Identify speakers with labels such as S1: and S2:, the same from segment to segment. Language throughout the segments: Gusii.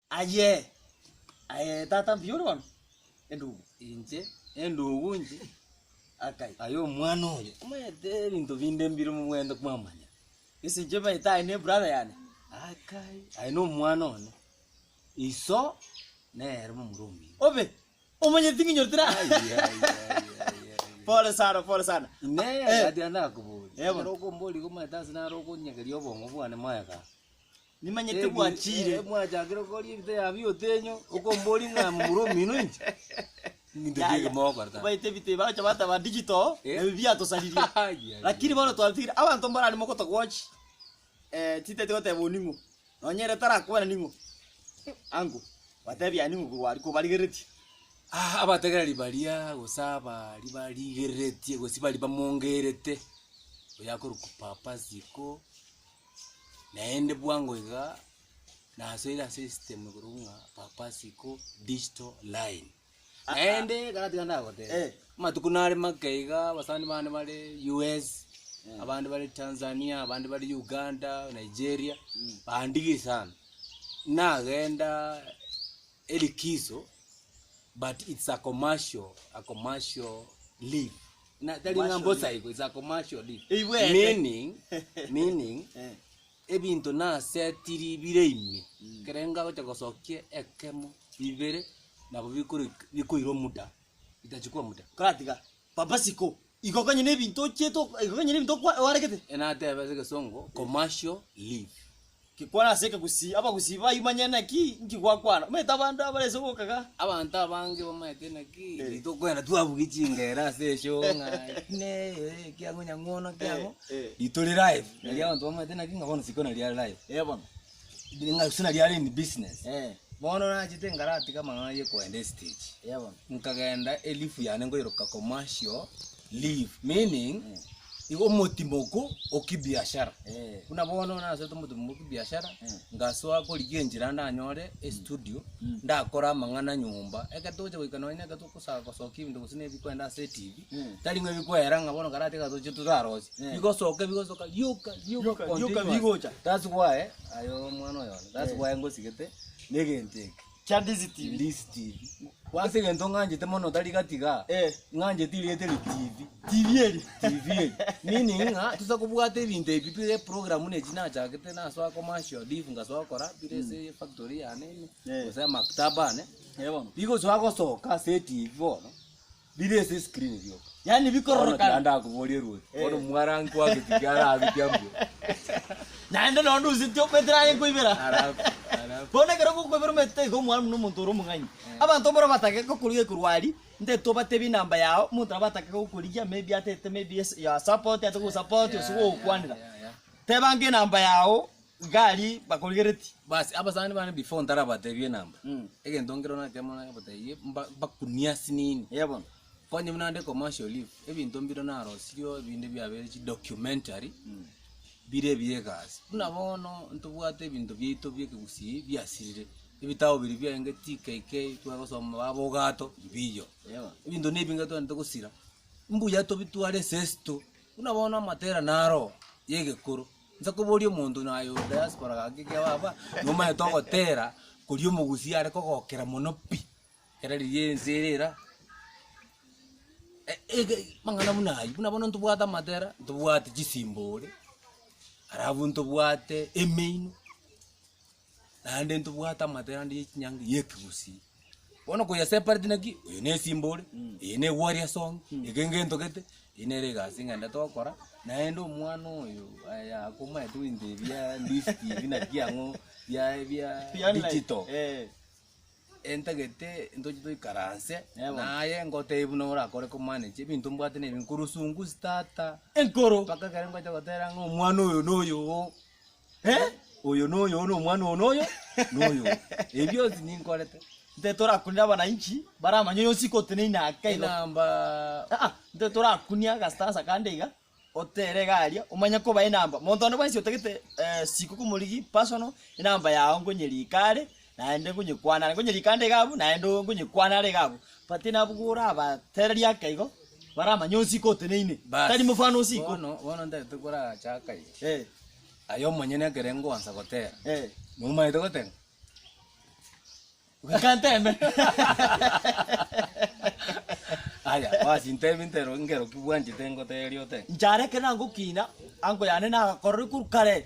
S1: Aye, aye tata mbuya ore bono, endugu. Inche,
S2: endugu inche, akai. Aye
S1: omwana
S2: oyo, omaete ebinto binde mbire mobwenerete kwamanya. Ase inche omaete
S1: aye ne brother yane, akai,
S2: aye no omwana one, iso nere momura omuya. Obe,
S1: omanyeti ng'a inyorete ra. Aye, aye, aye, aye. Pole sana, pole sana. Ine, Eh. gati
S2: nakoboria. Ebo. Ekero okombori igo omaete ase nare okonyegeria obong'u bwane moyo igaa. Nimanyete
S1: bwachiire.
S2: Yaya, obaete ebitebe bagocha bataba
S1: digital, ebi biatosaririe. Lakini bono twatigire abanto mbarare mogoto gochi, eh, chitaete goteba oning'o, nonye ere tarakwana ning'o, uncle, batebi aye ning'o korwa aria kobarigereretie. Aa, abategereri
S2: baria gose abaaria barigereretie gose baria bamongerete, oyo akorokwa papa, siko. Naende bwango iga nasoire ase esystem igoro ng'a papa siko digital line. Naende ekero tiga ndagoteba, Eh. amatuko nare make iga abasani bane bare US, Eh. abande bare Tanzania, abande bare Uganda, Nigeria, bandigia sana. Nagenda elikizo but it's a commercial, a commercial leave. Na tari ng'a mbosa igo, it's a commercial deal. Eibwete. Meaning, meaning, Eh. ebinto nasetiri bire ime, Mm. ekero ngagocha gosokia ekemo, bibere, nabo bikori- bikoirwa muda, bitachukua muda. Koratiga papa
S1: siko igo konya ne ebinto ochiete ok- igo konya ne ebinto okwa- oaregete. Enatebe ase egesongo,
S2: commercial leave. Gekwana ase
S1: ekegusii, abagusii baimanye naki inki gwakwana. Omanyete abande abarese goka iga. Abanto abange
S2: bamanyete naki inki tokwenda twabugia chingera ase eshoo ng'a ine ee ekiang'o nyang'ono kiang'o rito ri live. Nari abanto bamanyete naki ng'a bono siko nari are live. Ee bono.
S1: Ng'a siko
S2: nari are in business. Bono nachete nkaratiga amang'ana ya okoenda estage. Nkagenda
S1: elifu
S2: yane nkoiroka commercial. live meaning igo omotimoko o kibiashara Eh. buna bono nasete omotimoko o kibiashara Mm. ngasoa korigia enchera ndanyore estudio Mm. ndakore amang'ana nyomba ekero togocha goika nonye na ekero togosa- gosokia ebinto gose na ebikwenda ase etv Mm. tari ng'a ebikwera ng'a bono karati iga toche torarosie Mm. bigosoka bigosoka rioka Rioka, rioka continuous. bigocha. that's why aye omwana oyo one that's why ngosigete na egento eke Kia this TV.
S1: This TV.
S2: Ase egento ng'anchete mono tari gatiga, Eh. ng'anchete erieta eri TV. TV eri. TV eri. Meaning ng'a tosa kobwata ebinto ebi bire eprogramu na echi nachagete nasoa commercial div ngasoa gokora bire ase efactory yane ime, Eh. gose amaktaba ane. Eh, bono. Rigosoa gosoka ase eTV bono, Bire ase eskrini rioka. Yaani bikororokana.
S1: Bono tiga ndakoborie Ruoth.
S2: Bono mwara nkwake tiki aragutya mbwe.
S1: Naende nonye nduseti okwetera aye nkoibera. Bono ekero ogokoibera omaete iga omwana buna omonto ore omong'aini. Abanto mboro batake gokorigia ekorwa aria, nte tobatebie enamba yao, omonto nabo atake gokorigia maybe atete maybe your support ase gosupport ase gogokwanera. Tebanga enamba yao. Gari bakorigereti. Basi abasani bane
S2: before ntarabatebie enamba Mm. egento nkero natiga mono nabatebirie mba- mbakunie ase nini Eya bono. konye
S1: buna naende
S2: commercial leave ebinto mbire narosirio ebinde biabere chi documentary Mm. bire ebiya egasi buna bono ntobwate ebinto biaito bia ekegusii biasirire ebitabu biria biarenge TKK tware gosoma baba ogato mbiyo Eya bono. ebinto na ebinge twagete gosira mbuya tobitware ase esito buna bono amaterano aro ya egekoro. Inche koboria omonto na aye o diaspora gaki iga baba, nomanyete ogotera koria omogusii are kogokera mono pi, ekero riria ense ere era, e- ege mang'ana buna ayio, buna bono ntobwate amatera, ntobwate chisimbore, arabu ntobwate emeino. naende ntobwate amatera ande ye chinyangi ye ekegusii. Bono koyesepareti naki, oyo ne esimba ore, eye ne egwari ase ong'e, eke ngentogete, eye nere egasi ng'ende tokora, naende omwana oyo aya akomanyete goika ebia Ndiiz TV naki ang'o bia bia digital, entagete ntoche toikaranse naye ngotebie buna orakore ko manage ebinto mbwate na ebi, nkorusungu starter, mpaka ekero
S1: ngocha gotera
S2: ng'a omwana oyo noyo oo. Oyo noyo, oyo nomwana oo noyo, noyo oo. Ebi bionsi ninkorete. Nte torakunire
S1: abananchi baramanye oyo nsi koteneine ake igo. Enamba. Ah, ah,
S2: nte torakunie
S1: agastansa kande iga, otere iga aria, omanye koba enamba. Monto onde bwensi otagete eh, siko komorigi, personal, enamba yao nkonyerie iko are, Naende nkonyekwana are, nkonyerika ande iga abwo, naende oo nkonyekwana are iga abwo. But nabwo orabatererie ake igo, baramanye osiko oteneine, Bas. tari mofano osiko. Bono, bono ntagete
S2: korachaka iga. Eh, Aye omonyene ekere ngoansa gotera, eh. nomanyete goteba?
S1: Reka nteme.
S2: Aya, basi ntebie ntero nkero kobwanchete ngoteria otebe. Inche are ekero nagokina,
S1: ango yane nagakororire korwa kare.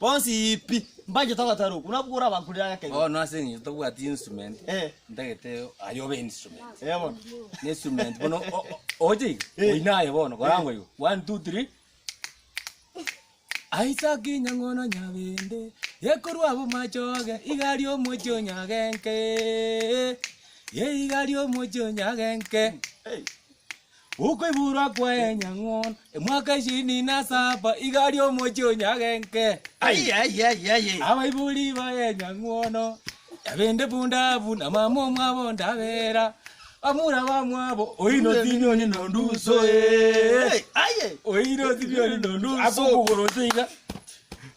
S1: Bonsi pi, mbanchete ogotara okwo, nabwo orabankurere ang'e kenyoro. Bono ase eng'encho tobwati
S2: instrument, Eh. ntagete aye obe instrument. Eh, bono. Ne
S1: instrument bono
S2: o- o- o- ogocha iga, Eh. oine aye bono, korangwa igo, one, two, three. Isaac Nyang'ono Nyabende, ekorwa abwo machoge, iga aria omochie onyagenke, eh, iga aria omochie onyagenke. Hey. Okoiborwa kwaye nyang'ono emwaka ishirini na saba iga aria omochie o Nyagenke.
S1: Ai, ai, ai, ai.
S2: Abaibori baye nyang'ono yabende bundabu na mama omwabo ndabera bamura bamwabo oino tinioni nonduso eh. Ai, ai. oino tinioni nonduso akokugorosa iga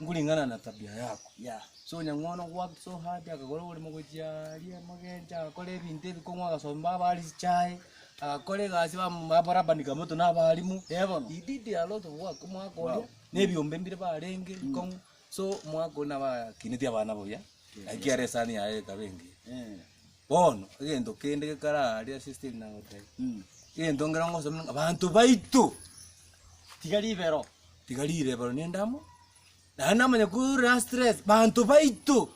S2: nkuring'ana na tabia yako. Yeah. So Nyang'ono worked so hard akagora oborimo gochia aria amagencho agakora ebinto ebi kong'wa agasomba abari chichae agakora egasi bam- babarabanika moto na abarimu eh bono he did a lot of work omwaka oria Wow. na ebiombe mbire barenge kong'u so omwaka oria nabakineti abana buya naki kiara esani yaye ekaba engiya. Eh. Bono egento kende gekare aaria ase esiteri nagoteba, egento nkere ngosaba ning'o, abanto baito tiga ribero, tiga rirebero nende amo, naende namanya korire ase stress, banto baito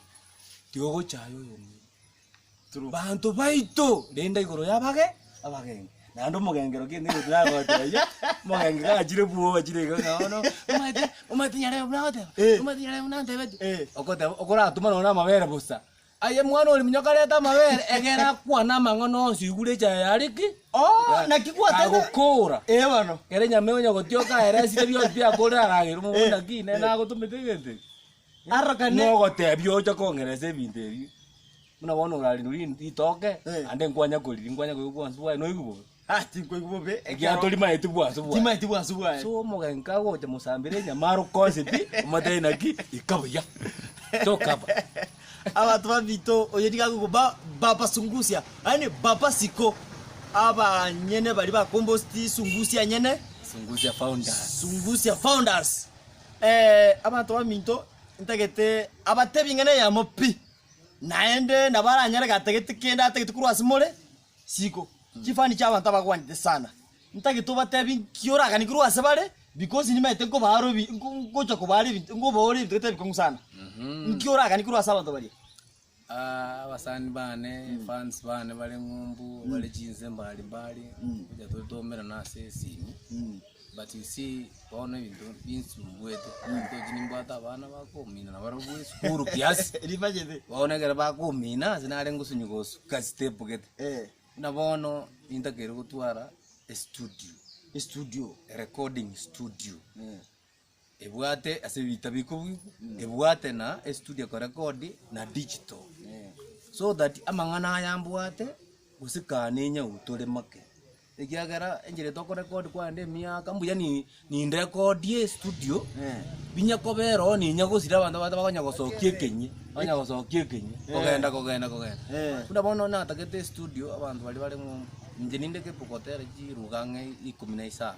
S2: tiga ogocha aye oyomwabo, banto baito renda igoro y'abage abageni, naende omogengere okia egento ekio nagoetera iga, omogenge gachire bwoo gachire iga ng'a bono omanyete omanyete nyarebe buna agoteba, omanyete nyarebe buna antebetie, ogoteba okoratuma nonye na amabere bosa. Aye mwana ori munyoko arete amabere, egera akwane amang'ana onsi, igure echaye yare ki? Oo, naki
S1: gwatete? Kagokoora. Ee
S2: bono. Kere nyama
S1: egonya gotioka
S2: aye resire bionsi biakorire aragere omobori Eh, naki nere eh. nagotomete egento eki. Arokane.
S1: Nogotebia
S2: ocha kong'eresa ebinto ebi. Buna bono orarindwe ri- ritoke, Eh. ande nkwanya koriria, nkwanya koigwa obwansu bwaye, noigwe bobe. Ah, tinkoigwa bobe, ekiagera
S1: Ekiatorimaeti
S2: bwansu bwaye. timaeti bwansu bwaye. So
S1: omogenki
S2: kagocha mosambera enyama arokosie pi, omotebi naki, ika buya. Tokaba. Abanto
S1: babito oyo nigo akoigwa ba- babasungusia, yaani babasiko abanyene baria bakombosti sungusia nyene, Sungusia founders. sungusia founders. Eh, abanto baminto ntagete abatebi ing'ana eyemo pi, naende nabo aranyare gatagete kende atagete korwa ase more, Isiko, chifani chi'abanto abakwanete sana, ntagete obatebi nki oraganekerwe ase bare, because nimaete nkobaare obi nko nkocha kobaara ebinto nkobaore ebinto gete ebikong'u sana. Nki oraganekerwe ase abanto baria? Ah, abasani
S2: bane, fans bane bare ng'umbu, bare chinse mbari mbari, ngocha tore twaumerana ase esimi. But you see bono ebinto binsumbwete ebinto echi nimbwate abana bakomina na barabwo esukuru kiasi Ribachete. bono ekero
S1: bakomina
S2: ase nare ngosunywa gosuka step gete Eh. buna bono nintakeire gotwara estudio Estudio. erecording studio Eh. Ebwate ase ebitabo ikobuigwa, ebwate na estudio ekorekodi na digital. So that amang'ana aya mbwate gose kane enyau tore make. Ekiagera enchera eye tokorekodi kwarende emiaka mbuya ni nindekodie estudio, binya kobera oo ninya gosira abanto bato bakonya gosokia ekenyi, bakonya gosokia ekenyi, kogenda kogenda kogenda. Buna bono natagete estudio abanto baria baremo inche ninde kepu gotera chiruga ang'e ikomi na isano.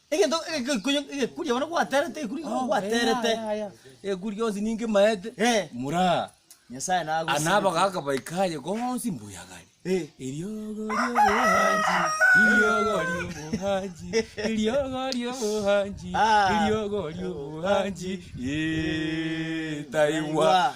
S2: Egento egekonyo
S1: egekuria bono gwaterete egekuri igo gwaterete egekuri gionsi
S2: ninge maete Eh. muraa Nyasaye ana nagosigete.
S1: abagaka baika aye
S2: gonsi mbuya gari Eh. eriogo riobohangi eriogo riobohangi eriogo riobohangi Ah. eriogo riobohangi Ee, taigwa Taigwa.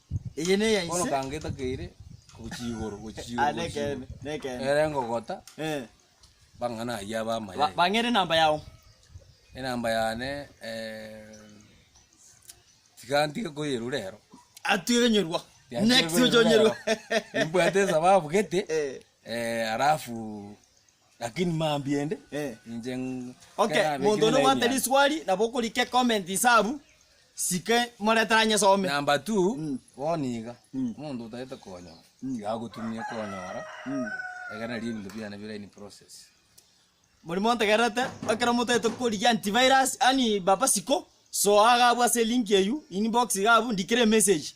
S2: Eye neya
S1: Bono ise. kangetakeire
S2: gochia igoro, gochia igoro, Ah, gochia nekende,
S1: igoro. nekende. Ere ngogota
S2: Eh. bang'ana ayio Ba- ab'amayai. Bang'ere enamba yao.
S1: Enamba
S2: yane eh, tiga ntige koyerwa rero. Atwire nyorwa.
S1: Tiga ntige Next koyerwa ocho nyorwa. rero. Nimbwate
S2: esababu gete, Eh. eh, alafu Lakini mambia ende, inche Okay, nkerabe monto
S1: ekimo one na ogoata emiano. riswali nabo okorika ecomment inse abwo, sike moreta anyesome. Number two, Mm.
S2: bono iga, Mm. omonto otagete konyora, Mm. tiga agotumie konyora, Mm. ekero nari ebinto biane bire in process. Moria
S1: montegererete, ekero motagete korigia antivirus, yaani baba siko, soa iga abwo ase elink eywo, inbox iga abwo, ndikera emessage.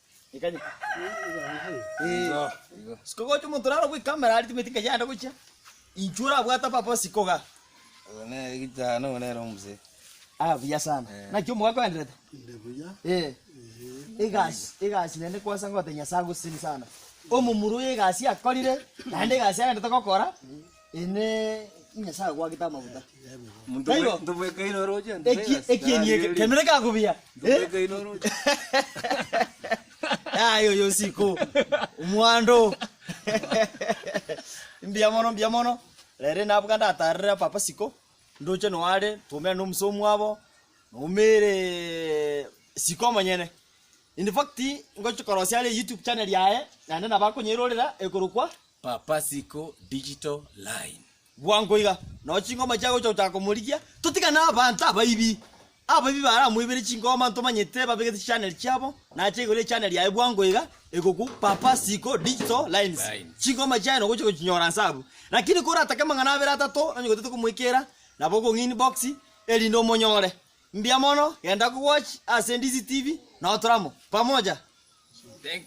S1: Sikogocha omonto naro bwe camera ari timeti nkaye yande gochia. Inchwe orabwate papa osikoga. Oyo nere
S2: gitano oyo nere omuse. Ah buya sana.
S1: Eh. Naki omogaka oenderete. Nde buya. Eh. Egasi egasi nende kwasa ngote Nyasaye agosini sana. Omomura oyo egasi akorire naende egasi agende togokora. Inee! Nyasae agoagete amaguta? Taibo?
S2: Eki- Ekieni eke,
S1: kemire kaku buya.
S2: Eh?
S1: Yaya oyo nsiko, omwando. Mbuya mono, mbuya mono. Rero nabuga ndatarera papa siko, ndoche noo are, twaumera nomusa omwabo, noumere siko omonyene. In fact, ngochi korosia are YouTube channel yaye, naende nabo akonyerorera ekorokwa, Papasiko
S2: Digital Line. Bwango iga,
S1: nao chingoma chiagocha gochaka komorigia, totigane abanto abaibi. Abaibi baramoibere chingoma ntomanyete babegete chichaneli chiabo, nache igoro y'echaneli yaye bwango iga egokwa Papasiko Digital Lines. Lines. Chingoma chiaye nogocha gochinyora nse abwo. Lakini koratake amang'ana abere atato onye gotete komoikera, nabo okong'inbox erinde omonyore. Mbuya mono, genda kowatch ase NDC TV, nao tore amo. Pamoja!